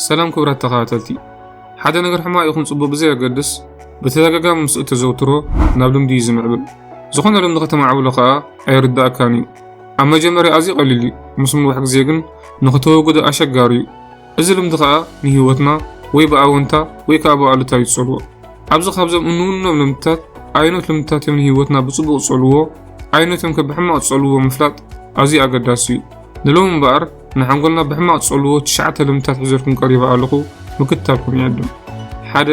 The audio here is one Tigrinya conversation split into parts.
ሰላም ክቡራት ተኸታተልቲ፣ ሓደ ነገር ሕማቕ ይኹን ጽቡቕ ብዘየገድስ ብተደጋጋሚ ምስ እተዘውትሮ ናብ ልምዲ እዩ ዝምዕብል። ዝኾነ ልምዲ ከተማዕብሎ ከኣ ኣይርድኣካን እዩ። ኣብ መጀመርያ ኣዝዩ ቀሊል እዩ፣ ምስ ምንዋሕ ግዜ ግን ንኽተወግዶ ኣሸጋሪ እዩ። እዚ ልምዲ ከኣ ንህይወትና ወይ ብኣወንታ ወይ ከኣ ብኣሉታ እዩ ዝጸልዎ። ኣብዚ ካብዞም እንውንኖም ልምድታት ኣየኖት ልምድታት እዮም ንህይወትና ብጽቡቕ ዝጸልዎ፣ ኣየኖት እዮም ከ ብሕማቕ ዝጸልዎ ምፍላጥ ኣዝዩ ኣገዳሲ እዩ። ንሎሚ እምበኣር ንሓንጎልና ብሕማቕ ዝጸልዎ ትሽዓተ ልምድታት ሒዘልኩም ቀሪበ ኣለኹ ምክትታልኩም ይዕድም ሓደ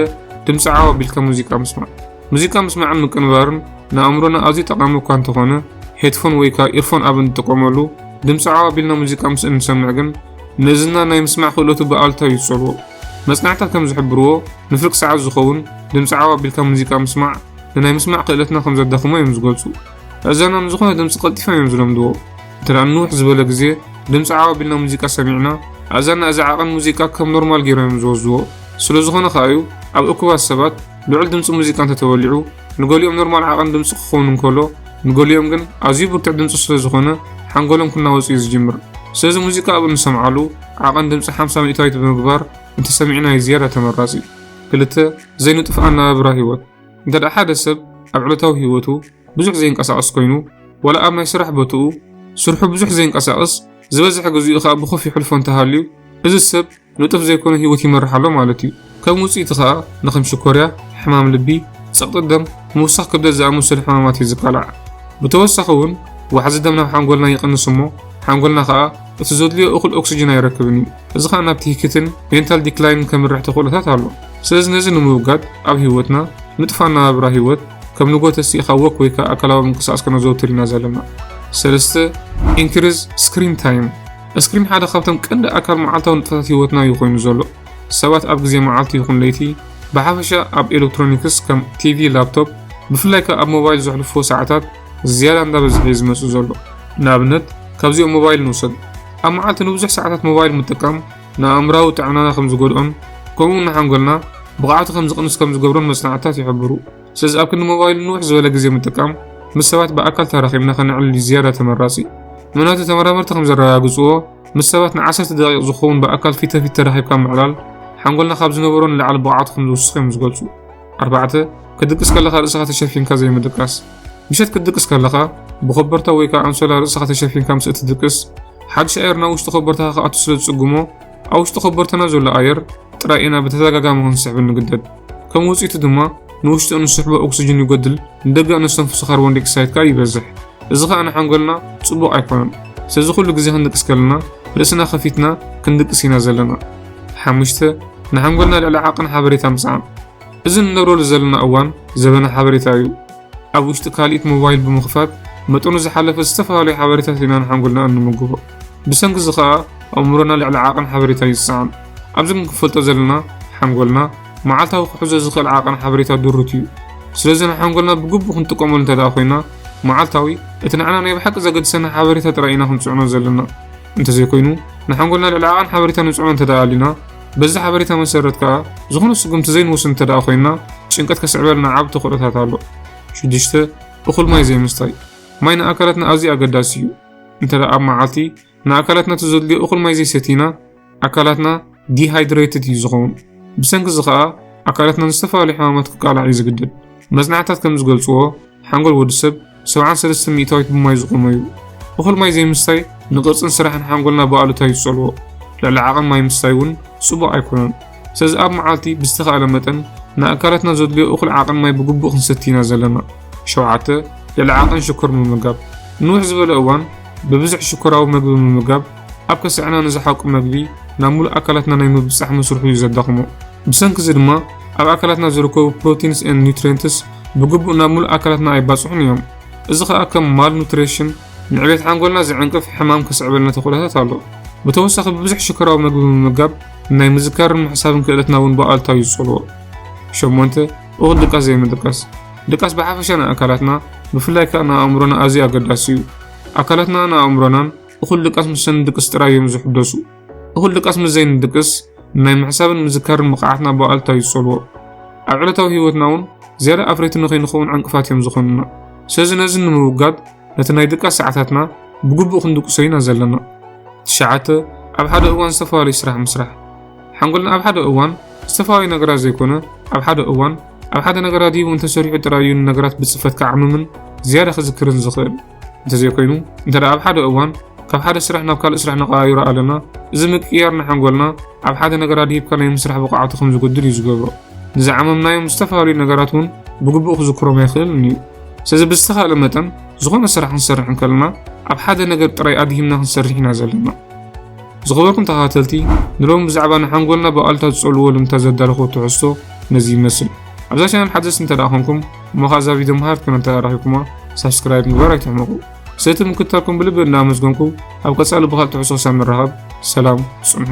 ድምፂ ዓው ኣቢልካ ሙዚቃ ምስማዕ ሙዚቃ ምስማዕን ምቅንባርን ንኣእምሮና ኣዝዩ ጠቓሚ እኳ እንተኾነ ሄድፎን ወይ ከዓ ኢርፎን ኣብ እንጥቀመሉ ድምፂ ዓው ኣቢልና ሙዚቃ ምስ እንሰምዕ ግን ንእዝና ናይ ምስማዕ ክእለቱ ብኣሉታ እዩ ዝጸልዎ መጽናዕታት ከም ዝሕብርዎ ንፍርቂ ሰዓት ዝኸውን ድምፂ ዓው ኣቢልካ ሙዚቃ ምስማዕ ንናይ ምስማዕ ክእለትና ከም ዘዳኽሞ እዮም ዝገልጹ እዘና ንዝኾነ ድምፂ ቀልጢፎም እዮም ዝለምድዎ ትናን ንውሕ ዝበለ ግዜ ድምጺ ዓው ኣቢልና ሙዚቃ ሰሚዕና ኣእዛንና እዚ ዓቐን ሙዚቃ ከም ኖርማል ገይሮም እዮም ዝወስድዎ ስለዝኾነ ከኣ እዩ ኣብ እኩባት ሰባት ልዑል ድምጺ ሙዚቃ እንተተወሊዑ ንገሊኦም ኖርማል ዓቐን ድምጺ ክኸውን እንከሎ ንገሊኦም ግን ኣዝዩ ብርቱዕ ድምጺ ስለዝኾነ ሓንጎሎም ክናወጽ እዩ ዝጅምር ስለዚ ሙዚቃ ኣብ እንሰምዓሉ ዓቐን ድምጺ 50 ሚእታዊት ብምግባር እንተሰሚዕናዩ ዝያዳ ተመራጺ ክልተ ዘይንጡፍ ኣነባብራ ህይወት እንተደኣ ሓደ ሰብ ኣብ ዕለታዊ ህይወቱ ብዙሕ ዘይንቀሳቐስ ኮይኑ ዋላ ኣብ ናይ ስራሕ ቦትኡ ስርሑ ብዙሕ ዘይንቀሳቐስ ዝበዝሐ ግዚኡ ከኣ ብኮፍ ይሕልፎ እንተሃልዩ እዚ ሰብ ንጡፍ ዘይኮነ ህይወት ይመርሕ ኣሎ ማለት እዩ። ከም ውጽኢቱ ከኣ ንከም ሽኮርያ፣ ሕማም ልቢ፣ ጸቕጢ ደም፣ ምውሳኽ ክብደት ዝኣመሰሉ ሕማማት እዩ ዝቃላዕ። ብተወሳኺ እውን ዋሕዚ ደም ናብ ሓንጎልና ይቕንስ እሞ ሓንጎልና ከኣ እቲ ዘድልዮ እኹል ኦክስጅን ኣይረክብን እዩ። እዚ ከኣ ናብ ትህኪትን ሜንታል ዲክላይንን ከምርሕ ተኽእሎታት ኣሎ። ስለዚ ነዚ ንምውጋድ ኣብ ህይወትና ንጡፍ ኣነባብራ ህይወት ከም ንጎተ ስኢኻ ወክ ወይ ከዓ ኣካላዊ ምንቅስቃስ ከነዘውትር ኢና ዘለና። ሰለስተ ኢንክሪዝ ስክሪን ታይም እስክሪን ሓደ ካብቶም ቀንዲ ኣካል መዓልታዊ ንጥፈታት ህይወትና እዩ ኮይኑ ዘሎ። ሰባት ኣብ ግዜ መዓልቲ ይኹን ለይቲ ብሓፈሻ ኣብ ኤሌክትሮኒክስ ከም ቲቪ፣ ላፕቶፕ ብፍላይ ከ ኣብ ሞባይል ዘሕልፎ ሰዓታት ዝያዳ እንዳበዝሐ እዩ ዝመጽእ ዘሎ። ንኣብነት ካብዚኦም ሞባይል ንውሰድ። ኣብ መዓልቲ ንብዙሕ ሰዓታት ሞባይል ምጥቃም ንኣእምሮኣዊ ጥዕናና ከም ዝጎድኦን ከምኡ'ውን ንሓንጎልና ብቕዓቱ ከም ዝቕንስ ከም ዝገብሮን መጽናዕትታት ይሕብሩ። ስለዚ ኣብ ክንዲ ሞባይል ንውሕ ዝበለ ግዜ ምጥቃም፣ ምስ ሰባት ብኣካል ተራኺብና ከነዕልል እዩ ዝያዳ ተመራጺ። ምኽንያቱ ተመራመርቲ ከም ዘረጋግጽዎ፣ ምስ ሰባት ንዓሰርተ ደቒቕ ዝኸውን ብኣካል ፊተ-ፊት ተራኺብካ ምዕላል፣ ሓንጎልና ካብ ዝነበሮ ንላዕሊ ብቕዓቱ ከም ዝውስኽ እዮም ዝገልጹ። ኣርባዕተ፣ ክትድቅስ ከለኻ ርእስኻ ተሸፊንካ ዘይምድቃስ። ምሸት ክትድቅስ ከለኻ፣ ብኮበርታ ወይ ከዓ ኣንሶላ ርእስኻ ተሸፊንካ ምስ እትድቅስ፣ ሓድሽ ኣየር ናብ ውሽጢ ኮበርታኻ ክኣቱ ስለ ዝጽግሞ፣ ኣብ ውሽጢ ኮበርታና ዘሎ ኣየር ጥራይ ኢና ብተደጋጋሚ ክንስሕብ እንግደድ። ከም ውጽኢቱ ድማ፣ ንውሽጢ እንስሕቦ ኦክስጅን ይጎድል፣ ንደገ እነስተንፍሶ ካርቦን ዲኦክሳይድ ከዓ ይበዝሕ። እዚ ከዓ ንሓንጎልና ጽቡቕ ኣይኮነን። ስለዚ ኩሉ ግዜ ክንድቅስ ከለና ርእስና ከፊትና ክንድቅስ ኢና ዘለና። ሓሙሽተ፣ ንሓንጎልና ልዕሊ ዓቕን ሓበሬታ ምስዓም። እዚ ንነብረሉ ዘለና እዋን ዘበነ ሓበሬታ እዩ። ኣብ ውሽጢ ካልኢት ሞባይል ብምኽፋት መጠኑ ዝሓለፈ ዝተፈላለዩ ሓበሬታት ኢና ንሓንጎልና እንምግቦ። ብሰንኪ እዚ ከኣ ኣእምሮና ልዕሊ ዓቕን ሓበሬታ እዩ ዝሰዓም። ኣብዚ ግን ክንፈልጦ ዘለና ሓንጎልና መዓልታዊ ክሕዞ ዝኽእል ዓቕን ሓበሬታ ድሩት እዩ። ስለዚ ንሓንጎልና ብግቡእ ክንጥቀመሉ እንተድኣ ኮይና መዓልታዊ እቲ ንዓና ናይ ብሓቂ ዘገድሰና ሓበሬታ ጥራይ ኢና ክንጽዕኖ ዘለና። እንተዘይኮይኑ ንሓንጎልና ልዕሊ ዓቐን ሓበሬታ ንጽዕኖ እንተደኣ ኣሊና በዚ ሓበሬታ መሰረት ከኣ ዝኾነ ስጉምቲ ዘይንወስድ እንተደኣ ኮይንና ጭንቀት ከስዕበልና ዓቢ ተኽእሎታት ኣሎ። ሽዱሽተ እኹል ማይ ዘይምስታይ ማይ ንኣካላትና ኣዝዩ ኣገዳሲ እዩ። እንተደኣ ኣብ መዓልቲ ንኣካላትና ተዘድልዮ እኹል ማይ ዘይሰቲና ኣካላትና ዲሃይድሬትድ እዩ ዝኸውን። ብሰንኪ እዚ ከኣ ኣካላትና ንዝተፈላለዩ ሕማማት ክቃላዕ እዩ ዝግደድ። መጽናዕትታት ከም ዝገልጽዎ ሓንጎል ወዲ ሰብ ሰብዓን ሰለስተ ሚእታዊት ብማይ ዝቖመ'ዩ። እኹል ማይ ዘይምስታይ ንቅርጽን ስራሕን ሓንጎልና ብኣሉታ እዩ ዝጸልዎ። ልዕሊ ዓቐን ማይ ምስታይ እውን ጽቡቕ ኣይኮነን። ስለዚ ኣብ መዓልቲ ብዝተኻእለ መጠን ንኣካላትና ዘድልዮ እኹል ዓቐን ማይ ብግቡእ ክንሰቲ ኢና ዘለና። ሸውዓተ፣ ልዕሊ ዓቐን ሽኮር ምምጋብ። ንውሕ ዝበለ እዋን ብብዝሒ ሽኮራዊ መግቢ ምምጋብ ኣብ ከስዐና ንዝሓቁ መግቢ ናብ ምሉእ ኣካላትና ናይ ምብጻሕ መስርሑ እዩ ዘዳኽሞ። ብሰንኪ እዚ ድማ ኣብ ኣካላትና ዝርከቡ ፕሮቲንስ ኤንድ ኒውትሪየንትስ ብግቡእ ናብ ሙሉእ ኣካላትና ኣይባፅሑን እዮም። እዚ ከዓ ከም ማልኑትሪሽን፣ ንዕቤት ሓንጎልና ዝዕንቅፍ ሕማም ከስዕበልና ተኽእሎታት ኣሎ። ብተወሳኺ ብብዙሕ ሽኮራዊ መግቢ ምምጋብ ንናይ ምዝካርን ምሕሳብን ክእለትና እውን ብኣሉታዊ እዩ ዝፀልዎ። ሸሞንተ፣ እኹል ድቃስ ዘይምድቃስ። ድቃስ ብሓፈሻ ንኣካላትና ብፍላይ ከዓ ንኣእምሮና ኣዝዩ ኣገዳሲ እዩ። ኣካላትና ን ኣእምሮናን እኹል ድቃስ ምስ እንድቅስ ጥራይ እዮም ዝሕደሱ። እኹል ድቃስ ምስ ዘይንድቅስ ናይ ምሕሳብን ምዝካርን ብቕዓትና ብኣሉታ እዩ ዝጸልዎ ኣብ ዕለታዊ ህይወትና እውን ዝያዳ ኣፍረይቲ ንኸይንኸውን ዕንቅፋት እዮም ዝኾኑና ስለዚ ነዚ ንምውጋድ ነቲ ናይ ድቃስ ሰዓታትና ብግቡእ ክንድቅሶ ኢና ዘለና ትሽዓተ ኣብ ሓደ እዋን ዝተፈላለዩ ስራሕ ምስራሕ ሓንጎልና ኣብ ሓደ እዋን ዝተፈላለዩ ነገራት ዘይኮነ ኣብ ሓደ እዋን ኣብ ሓደ ነገራት ሂቡ እንተሰሪዑ ጥራይ እዩ ንነገራት ብፅፈት ክዓምምን ዝያዳ ክዝክርን ዝኽእል እንተዘይኮይኑ እንተ ኣብ ሓደ እዋን ካብ ሓደ ስራሕ ናብ ካልእ ስራሕ ነቐያይሮ ኣለና እዚ ምቅያር ንሓንጎልና ኣብ ሓደ ነገር ኣድሂብካ ናይ ምስራሕ ብቕዓቱ ከም ዝጎድል እዩ ዝገብሮ ንዝዓመምናዮም ዝተፈላለዩ ነገራት እውን ብግቡእ ክዝክሮም ኣይኽእልን እዩ ስለዚ ብዝተኻእለ መጠን ዝኾነ ስራሕ ክንሰርሕ እንከለና ኣብ ሓደ ነገር ጥራይ ኣድሂምና ክንሰርሕ ኢና ዘለና ዝኸበርኩም ተኸታተልቲ ንሎሚ ብዛዕባ ንሓንጎልና ብኣሉታ ዝጸልዎ ልምታ ዘዳለኹ ትሕዝቶ ነዚ ይመስል ኣብዛ ቻናል ሓደስ እንተ ደኣ ኮንኩም እሞ ከኣ እዛ ቪድዮ መሃርት ኮይና እንተረኺብኩማ ሳብስክራይብ ምግባር ኣይትሕመቑ። ሰቲ ምክትታልኩም ብልቢ እናመስገንኩ ኣብ ቀጻሊ ብኻልእ ትሕዝቶ ክሳብ ንራኸብ ሰላም ጽንሑ።